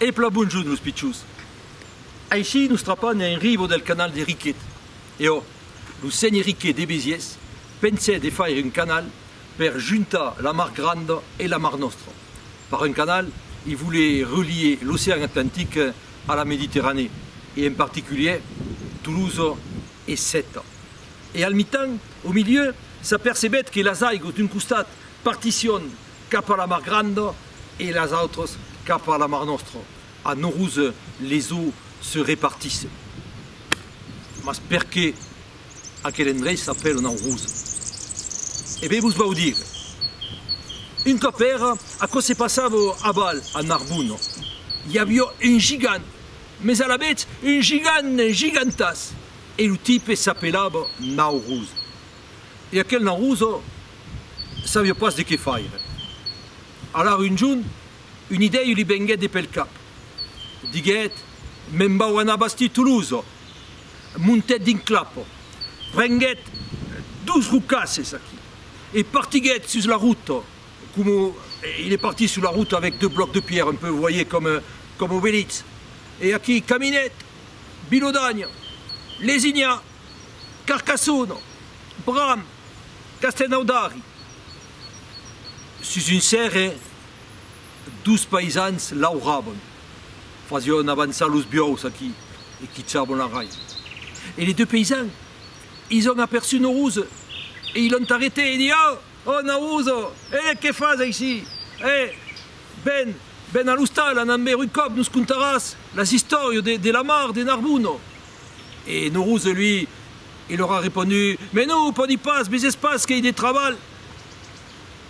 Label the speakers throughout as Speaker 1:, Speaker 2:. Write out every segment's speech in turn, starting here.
Speaker 1: E plan bonjut, los pichons! Aicí nos trapan en ribo del canal de Riquet. E ò, lo sénher Riquet de Besiés pensèt de faire un canal per juntar la mar Granda e la mar Nòstra. Par un canal, i volé relier l'ocean Atlantic a la Mediterranée, e en particulièr Toulouse e Sèta. E al mitan, au milieu, s'apercebèt que las aigos d'un costat partission cap a la mar granda e las autras cap a la mar nòstra, a Norouz les eaux se repartissen. Mas perqué aquel endrech s'apèla Naurouz? E ben vos vau dire. Un còp èra, aquò se passava a Val a Narbon, i aviá un gigant, mes alavetz un gigant gigantàs, e lo tipe s'apelava Naurouz. e aquel naruso sabiá pas de qué faire. Alara un jorn, un idèu li venguèt de pel cap. Diguèt, Me'n vau anar bastir Tolosa! Montèt dins clapa, prenguèt dos rocasses aquí e partiguèt sus la rota, coma il est parti sur la route avec deux blocs de pierre, un peu, voyez, comme, comme Obélix. E aquí caminèt, Bilodanha, lesinhar! Carcassona, Bram, Castenaudari, sus un cèrre dos païsans lauravan, fasián avançar los biòus aquí e quichavan la raiva. E les deux païsans, ils an aperçut Noroza e ils l'an arrêté e dit, Oh! Oh Noroza! E que fas aicí? E, Ven, ven a l'ostal, anam veir un còp, nos contaràs las istòrias de la mar de Narbona. E Nourouze, lui, i lor a reponut, Mais non, o pòdi pas, mes es pas qu'ei de trabalh!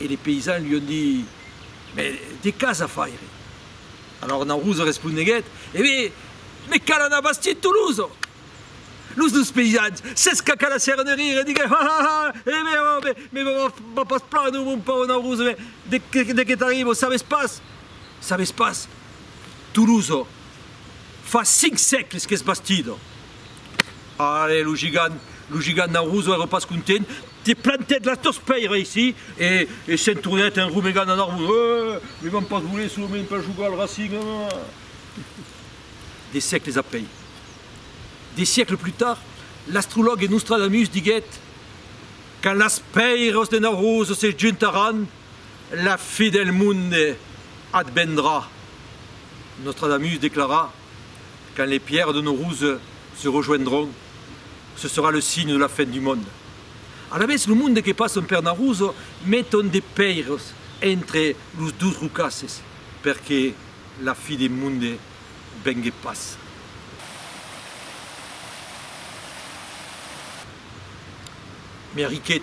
Speaker 1: E li peisans lui on dit, Mais de qu'as a faire? Alòr Nourouze responeguèt, E bé, me cal anar bastir Toulouse! Los dus peisans s'escacalassèron de rire e diguèron, Ha, ha, ha! E bé, o bé, me va pas plànher, o mon paur Nourouze, mais de que t'arriba, o sabes pas? Sabes pas? Tolosa, fa cinc sègles qu'es bastida. Arre, lo gigant, lo gigant Naurosa èra pas content, te plantèt las dos pèir aicí e e se'n tornèt en rumegant a Naurosa, Eeh! Me van pas voler solament per jogar al Racing, eeh! De sègles après, de sègles plus tard, l'astrològ e Nostradamus diguèt, Quand las pèiras de Naurosa se juntaràn, La fi del monde advendrà, Nostradamus declara, quand les pierres de nos ruses se rejoindront, ce sera le signe de la fin du monde. Alavetz, lo monde que passon per Naruz meton de pèires entre los dus rocasses perque la fi de monde vengue pas. Meriquet.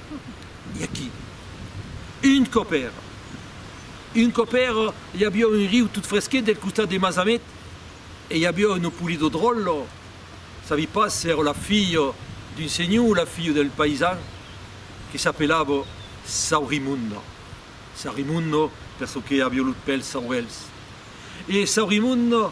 Speaker 1: I a qui? Un còp èra. Un còp èra, i aviá un riu tot fresquet del costat de Masamet, e i aviá una Polidodròla, sabi pas s'èra la filha d'un senhor o la filha del paisan, que s'apelava Saurimonda. Saurimonda, per çò que aviá los pèls saurèls. E Saurimonda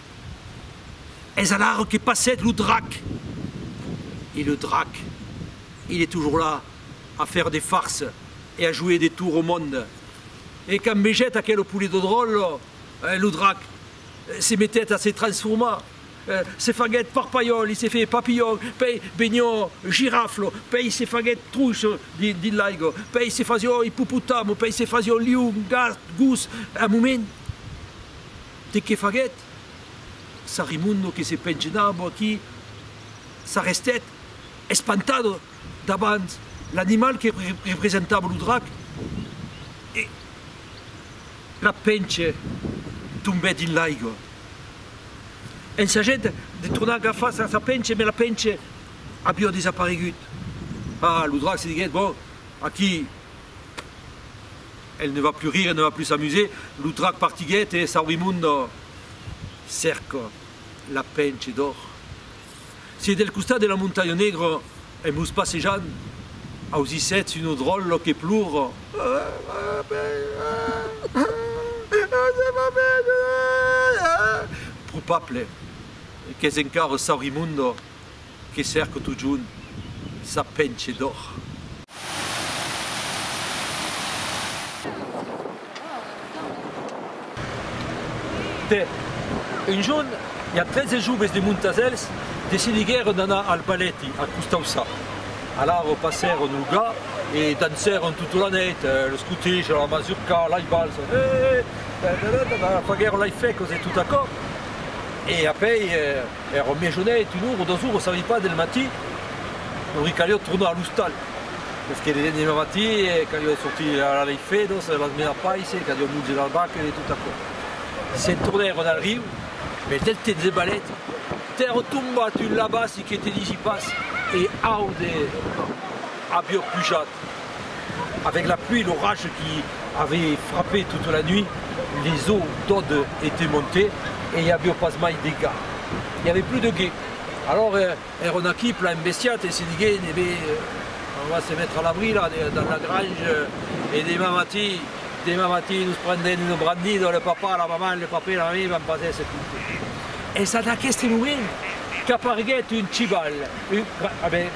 Speaker 1: Es alara que passèt lo drac. E le drac, il est toujours là a faire des farces e a jouer des tours au monde. E quand vegèt aquel poulet de dròlle, lo drac se metèt a se transformar, se faguèt parpalhòl, il s'est fait papillon, pèi venió girafle, pèi se faguèt truch dins l'aiga, pèi se fasió ippopotame, pèi se fasió lion, gat, gos, un moment. De qué faguèt? Sarimundo que se pengenabo aquí s'arrestèt espantado davant l'animal que representava lo drac e la penche tombèt dins l'aiga. Ensajèt de tornar agafar sa penche mai la penche aviá desaparegut. Ah, lo drac se diguèt, bon, aquí. Elle ne va plus rire, elle ne va plus s'amuser, lo drac partiguèt e Saurimundo cerca la penche d'or. Si del costat de la montanha negra en vos passejant ausissètz un odròllo que plora, probable qu'es encara Saurimundo. Que cèrque totjorn sa penche d'òr. De, un jorn, ja trese joves de Montasèls decidiguèron d'anar al balèti a Costauçà. Alara passèron lo gat e dancèron tota la nèit, los cotèja, la mazurca, lai balsa, eeh, ta-ta-ta-ta-ta, faguèron lai fècos e tot aquò. E apèi. Èra au miejonèit, un ora o dos oras, sabi pas, del matin, lori calió tornar a l'ostal, mès que l'endemà matin calió de sortir a la lei Fedos, a las menar pais, calió munge las vacas e tot aquò. Se'n tornèron al riu, mès del temps de balèt, t'èra tombat un labassi que te disi pas, e aude avió pujat. Avec la pluie et l'orage qui avait frappé toute la nuit, les eaux d'Aude étaient montées e i avió pas mai de ga. I avè plus de ge. Alors èra un aquí plan embestiat e se digué, ne be, on va se mettre à l'abri là, dans la grange, e dema matí, dema matí nos prendrem una brandina, le papa, la maman, le papè, la mamí van pas èsser contents. Es ad aqueste moment qu'aparguèt un chival. Oui, ah ben,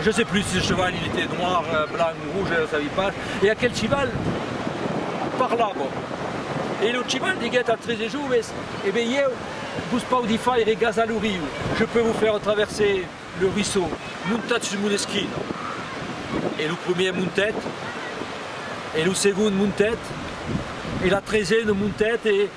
Speaker 1: je sais plus si ce cheval il était noir, blanc ou rouge, je ne savais pas, et aquel cheval parlava, et le cheval diguèt als tres joves, eh ben ieu vos paudi faire gasar lo riu, je peux vous faire traverser le ruisseau, montatz sus mon esquina. E lo premier montèt, e lo segon montèt, e la tresena montèt, e.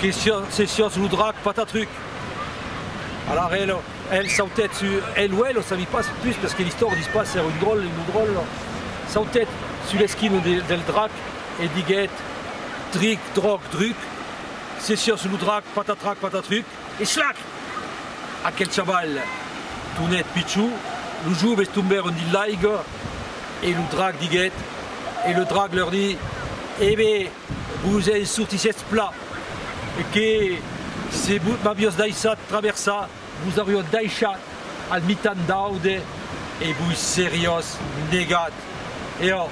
Speaker 1: Que se siás lo drac Patatruc! Alara el, el sautèt su, el o ela, sabi pas pus, perque l'istor dis pas s'èra un dròlle o no dròlle, sautèt su l'esquina del drac e diguèt, Dric, dròc, druc, se siás lo drac Patatrac, Patatruc! E slac! Aquel chaval tornèt pichó, los joves tombèron dins l'aiga e lo drac diguèt, e lo drac lor di, E be! Vos en sortissetz plan e que se vos m'aviós daissat traversar, vos aurió daishat al mitan d'aude e vos seriós negat. E ò,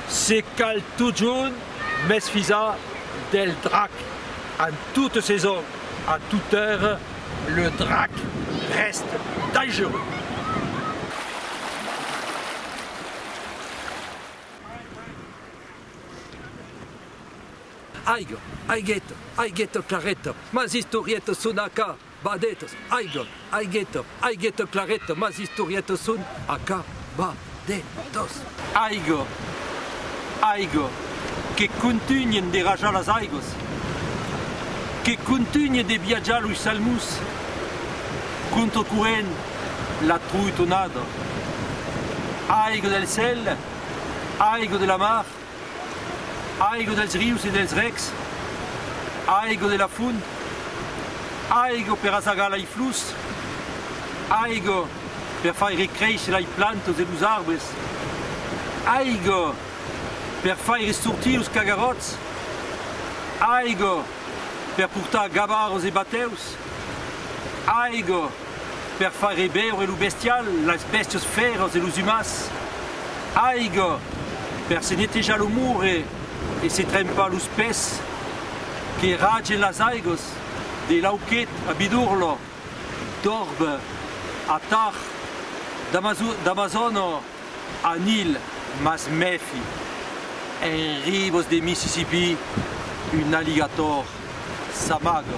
Speaker 1: se cal totjorn m'esfisar del drac amb totes ses ong a tothèr, le drac rèst dangereux. Aiga, aigeta, aigeta clareta, mas istorietas son acá badetas. Aiga, aigeta, aigeta clareta, mas istorietas son acá badetas. Aiga, aiga, que contunhen de rajar las aigas, que contunhe de viatjar los salmons contra corrent la troitonada. Aiga del cèl Aigo de la mar, aigo dels rius e dels rècs, aigo de la font, aigo per asagar lei flors, aigo per faire créisher lei plantas e los arbres, aigo per faire sortir los cagaròts, aigo per portar gabarras e batèus, aigo per far reveure lo bestial, las bèstias fèras e los umans, aiga per se netejar lo mure e se trempar los pès, que ragen las aigas de l'Auquet a Bidurlha, d'Orbe a Tach, d'Amazona a Nil, mas mèfi, en ribas de Mississippí un alligator s'amaga.